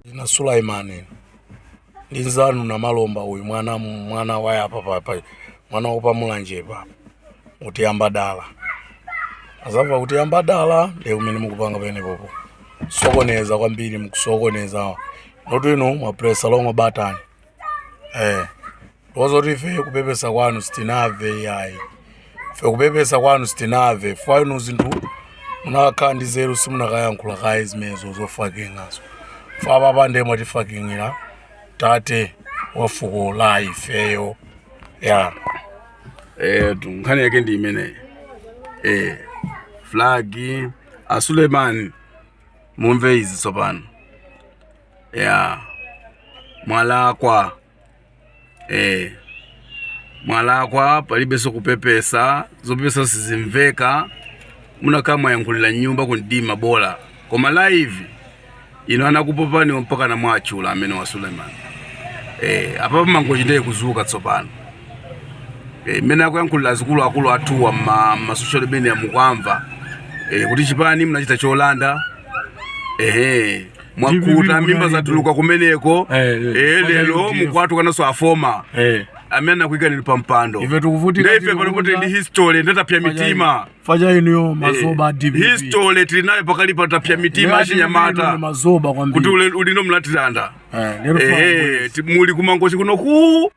na Sulaimani linzanu na malomba uyu mwana mwana waya apa papa mwana wopa mulanje pa utiyamba dala azava utiyamba dala lero umene mukupanga penepopo sokoneza kwambiri mukusokoneza notu inu mwapresa lomwe batani eh ndozoti ife kupepesa kwanu sitinamve ayi ife kupepesa kwanu sitinamve chifukwa inu zinthu munakakhala ndi zeru simunakayankhula kaye zimenezo zofakingazo chifukwa apapa ndiye mwatifaking'ira tate wa fuko la ifeyo ya eh tu nkhani yake ndi imeneyi eh flag a Sulemani mumve izi tsopano ya mwalakwa eh mwalakwa palibenso kupepesa zopepesa sizimveka munakakhala mwayankhulira mnyumba kumdima bola koma live ino anakupopani mpaka na mwachula amwene a Suleiman eh apa Mangochi ndiye kuzuka tsopano eh mmene akuyankhulira akulu akulu athuwa ma, ma social media mukwamva eh kuti chipani munachita cholanda eh mwakuta mimba zatuluka kumeneko eh, eh, eh lero mukuwatukwananso afoma eh amene anakuikani pa mpando ife tikuvutika ife panopa tili ndi history nde tapsa mitima faja ino yo eh, mazoba DPP history tili nayo pakali pa tapsa mitima achinyamata mazoba kwambiri kuti inu munatilanda eh, eh muli ku Mangochi kuno ku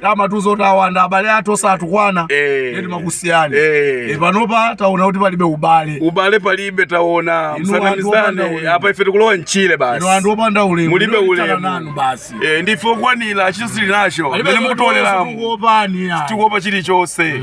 kumatizolowanda abale athu osatukwana Eh. eti timakusiyani Eh. Eh, panopa taona kuti palibe ubale ubale palibe taona Inu anthu opanda tisanamizane ulemu. apa ife tikulowa mchire inu anthu basi opanda ulemu mulibe Inu tithana nanu ulemu basi Eh, ndife okwanira chinthu tili nacho Palibe mene zoti mukutoleramo kuopani, ya. tikuopa chilichonse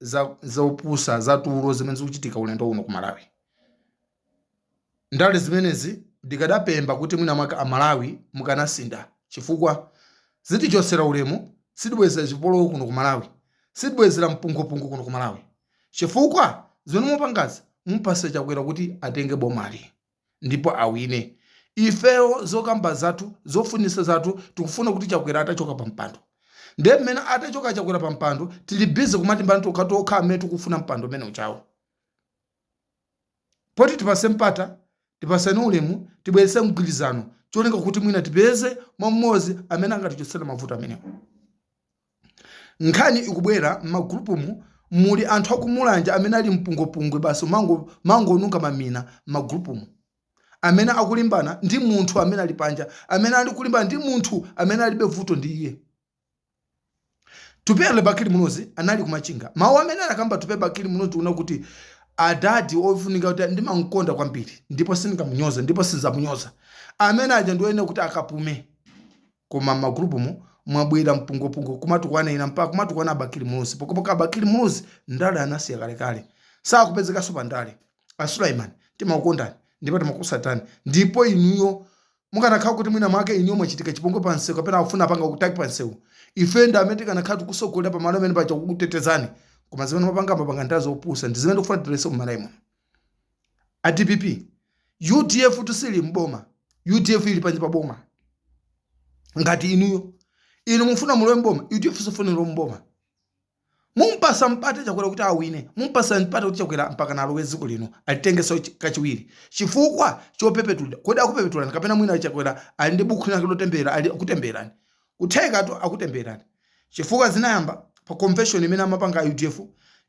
za zopusa za tulo zimene zikuchitika ulendo uno ku Malawi. Ndale zimenezi ndikadapempha kuti mwina mwake a Malawi mukanasintha chifukwa zitichotsera ulemu, zitibweretsera chipolowe kuno ku Malawi, zitibweretsera mpungwepungwe kuno ku Malawi chifukwa zimene mukupangazi mumupatsa Chakwera kuti atenge bomali. ndipo awine. Ifeyo zokamba zathu, zofunitsa zathu tikufuna kuti Chakwera atachoka pa mpando. Ndiye mmene atachoke Chakwera pa mpando tili busy kumalimbana tokha tokha amene tikufuna mpando umene ujawo. Poti tipatse mpata, tipatsane ulemu, tibweretse mgwirizano cholinga kuti mwina tipeze mwana mmodzi amene angatichotsere mavuto amenewa. nkhani ikubwera mmagulupumu muli anthu aku Mulanje amene ali mpungwepungwe basi kumangonunkha mamina mmagulupumu amene akulimbana ndi munthu amene ali panja amene ali kulimbana ndi munthu amene alibe vuto ndi iye Atupele Bakili Muluzi anali ku Machinga mawu amene anakamba Atupele Bakili Muluzi tikuona kuti adadi ofunika kuti ndimamkonda kwambiri ndipo sindingamunyoze ndipo sindizamunyoza amene aja ndioyenera kuti akapume koma mma group mu mwabwera mpungopungo kumatukwana ena mpaka kumatukwana Bakili Muluzi pokopoka Bakili Muluzi ndale anasiya kalekale sakupezekanso pa ndale a Sulaiman timakukondani ndipo timakusatani ndipo inuyo mukanakhala kuti mwina mwake inuyo mwachitika chipongwe pa msewu kapena akufuna apanga kutaki pa msewu ife ndi amene tikanakhala tikusogolera pa malo amene paja kukutetezani koma zimene mapanga mapanga ndazopusa ndi zimene tikufuna tithetse mu Malawi muno a dpp udf tu siili mboma udf ili panja pa boma ngati inuyo inu mufuna mulowe mboma udf siifuna ilowe mboma mumpasa mpata chakwera kuti awine mumpasa mpata kuti chakwera mpaka nalowe dziko lino alitengeso chi- kachiwiri chifukwa chopepetulira kodi akupepetulani kapena mwina chakwera ali ndi bukhu lake lotemberera akutembererani Kuthekatu akutembelerani chifukwa zinayamba pa convention imene amapanga a udf,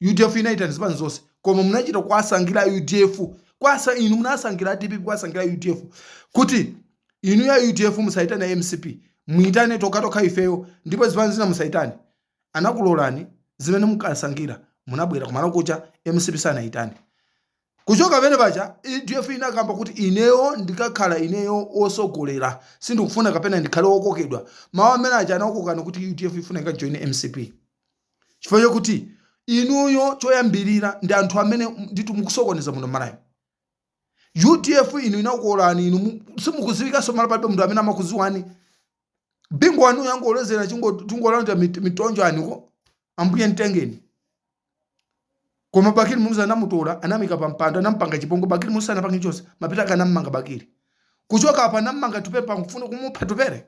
udf inayitana zipani zonse koma munachita kuwasankhira a udf kwa- sa- inu munasankhira a dpp kuwasankhira a udf kuti inuyo a udf musayitane a mcp muyitane tokhatokha ifeyo ndipo zipani zina musaziyitane anakulolani zimene munkasankhira munabwera kumalo kuja mcp sanayitane Kuchoka pamene paja udf inakamba kuti ineyo ndikakhala ineyo wosogolera sindikufuna kapena ndikhale wokokedwa mawu amene aja anakokani kuti udf ifuna ikajoine mcp chifukwa chokuti inuyo choyambirira ndi anthu amene ndithu mukusokoneza muno malawi udf inu inakolani inu mu- simukuziwikanso mmalo palibe munthu amene amakuziwani bingu wanuyo angomulozera akungolandira mitonzo aniko ambuye mtengeni koma bakili muluzi anamutola anamuika pa mpando anampanga chipongwe bakili muluzi anapange chonse mpaka anammanga bakili kuchoka apa anammanga Atupele nkufuna kumupha Atupele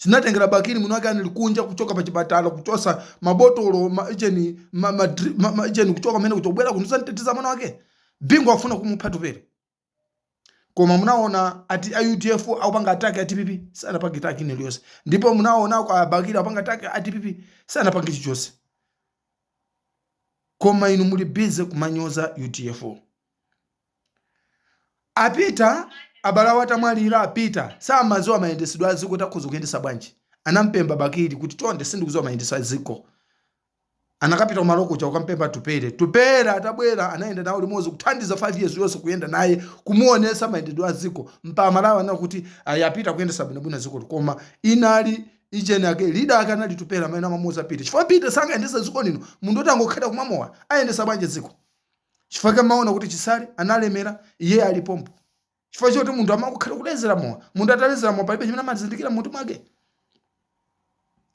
zinatengera bakili mwini wake anali kunja kuchoka pa chipatala kuchosa mabotolo ma- ijeni ma- ma- dri- ma- ma- ijeni kuchoka mene kuja kubwera kuno kuzamteteza mwana wake bingu afuna kumupha Atupele koma munaona ati a udf akupanga attack a dpp sanapange attack ina iliyonse ndipo munaona kwa bakili akupanga attack a dpp sanapange chichonse koma inu muli busy kumanyoza udf a Peter abale awo atamwalira a Peter samaziwa mayendesedwe a ziko timakhoza kuyendesa bwanji anampemba bakili kuti chonde sindikuziwa mayendesedwe a ziko anakapita kumalo kuja kukampemba Atupele. Tupele atabwera anayenda nawo limodzi kuthandiza 5 years yonse kuyenda naye kumuonesa mayendesedwe a dziko mpaka Amalawi anena kuti ayi a Peter akuyendesa bwinobwino dzikoli koma inali ijeni ake lida ake anali Tupele amene amamuuza Peter chifukwa Peter sangayendese dziko lino munthu woti angokhalira kumwa mowa ayendesa bwanji dziko chifukwa chake mmaona kuti Chisale analemera iye ali pompo chifukwa choti munthu amangokhalira kulezera mowa munthu atalezera mowa palibe chimene amazindikira mmutu mwake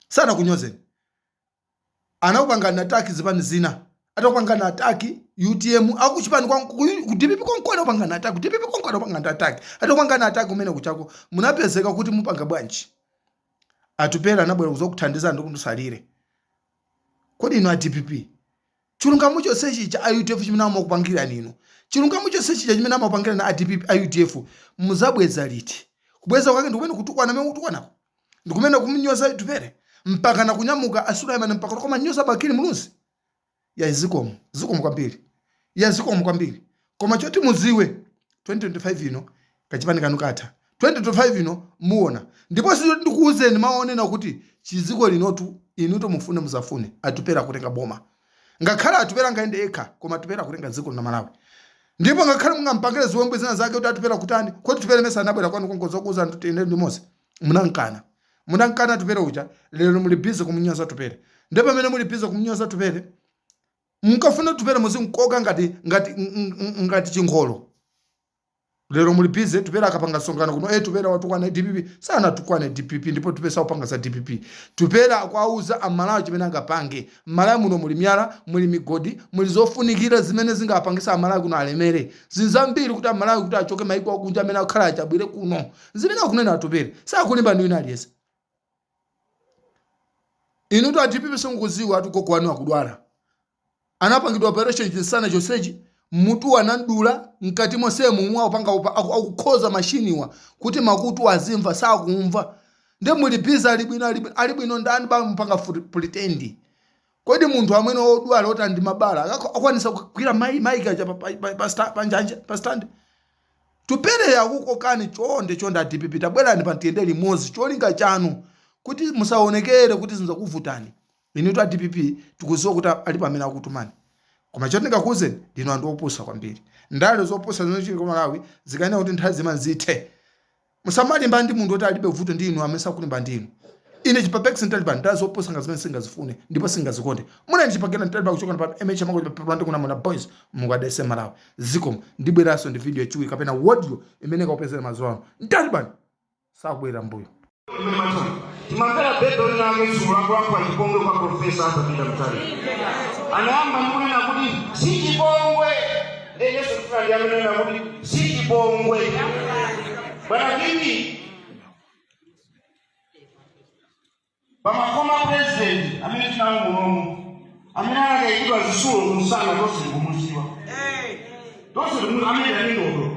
sanakunyozeni anakupangani attack zipani zina atakupangani attack utm akuchipani kwa ku dpp konko anakupangani attack ku dpp konko anakupangani attack atakupangani attack kumene kuchako munapezeka kuti mupanga bwanji atupere anabwera kuzokuthandizani kuti musalire kodi inu a dpp Chilungamo chonse chija a udf chimene amakupangirani inu, chilungamo chonse chija chimene amakupangirani a dpp, a udf muzabweza liti? Kubweza kwake ndikumene kutukwana mene mukutukwanako? Ndikumene kumunyoza Atupele? Mpakana kunyamuka a Sulaiman mpaka kumanyoza Bakili Muluzi? Yayi zikomo, zikomo kwambiri. Yayi zikomo kwambiri. Koma choti muziwe 2025 ino kachipani kanu katha 2025 ino muona ndipo sizoti ndikuuzeni mawu onena kuti chiziko linotu inuto mufune musafune atupere akutenga boma ngakhale atupere angayende okha koma atupere akutenga ziko la malawi ndipo ngakhale mungampangire ziwembu zina zake kuti atupere kutani kodi tupere mesa anabwera kwanu konko kuzokuuzani tiyende limodzi munankana munankana tupere uja lero muli busy kumunyoza tupere ndipo pamene muli busy kumunyoza tupere Munkafuna kuti Tupere muzimkoka ngati ngati ng- ng- ngati chingolo. Lero muli busy Tupere akapanga msonkhano kuno eh Tupere watukwana DPP sanatukwane DPP ndipo Tupere sakupanga za DPP. Tupere akuwauza amalawi chimene angapange. M'malawi muno muli miyala, muli migodi, muli zofunikira zimene zingapangisa amalawi kuno alemere. Zinthu zambiri kuti amalawi kuti achoke maiko akunja amene akhala achabwere kuno. Zimene akunena Tupere sakulimbana ndi wina aliyense. inutu a dpp simukudziwa ati gogo wanu akudwala anapangidwa operation chinsana chonsechi mutu anamdula mkati monsemu mwa upanga upa- aku- akukhoza mashiniwa kuti makutu azimva sakumva nde muli busy ali bwino ali bwino- ali bwino ndani basi mupanga pretend kodi munthu amene wodwala oti ndi mabala akakho- akwanisa kugwira mai maiki pa- pa- pa- pa sta- pa njanja pa stand tupere akukuuzani chonde chonde adpp tabwerani pa ntiyende limodzi cholinga chanu kuti musaonekere kuti zinthu zakuvutani inutu adpp tikuziwa kuti alipo amene akutumani koma choti ndikuuzeni ndinu anthu opusa kwambiri ndale zopusa zimene zili kwa amalawi zikanena kuti nthawi zina zithe Musamalimbana ndi munthu oti alibe vuto ndi inu amene sakulimbana ndi inu. Ine chipapex mtaliban ndale zopusa ngati zimene singazifune ndipo singazikonde. Munali ndi chipapex mtaliban kuchokera pano mh amako chipapepala ndi kunamona boys mulungu adalise malawi. Zikomo ndibweranso ndi video yachiwiri kapena audio imene ikakupezeni madzulo ano. Mtaliban sakubwerera mbuyo. Mmatani. Timamvera bebe winawake dzulo akulankhula chipongwe kwa Profesa Arthur Peter Mutharika. Anayamba ndi kunena kuti si chipongwe Enyeso kufuna ndi amanena kuti sichipongwe. Bwana Kiki. Pama former president amene tinali nawo munomu. Amene anaikidwa zisulo kumsana tonse tikumuziwa. Tonse amene ali ndi ndodo.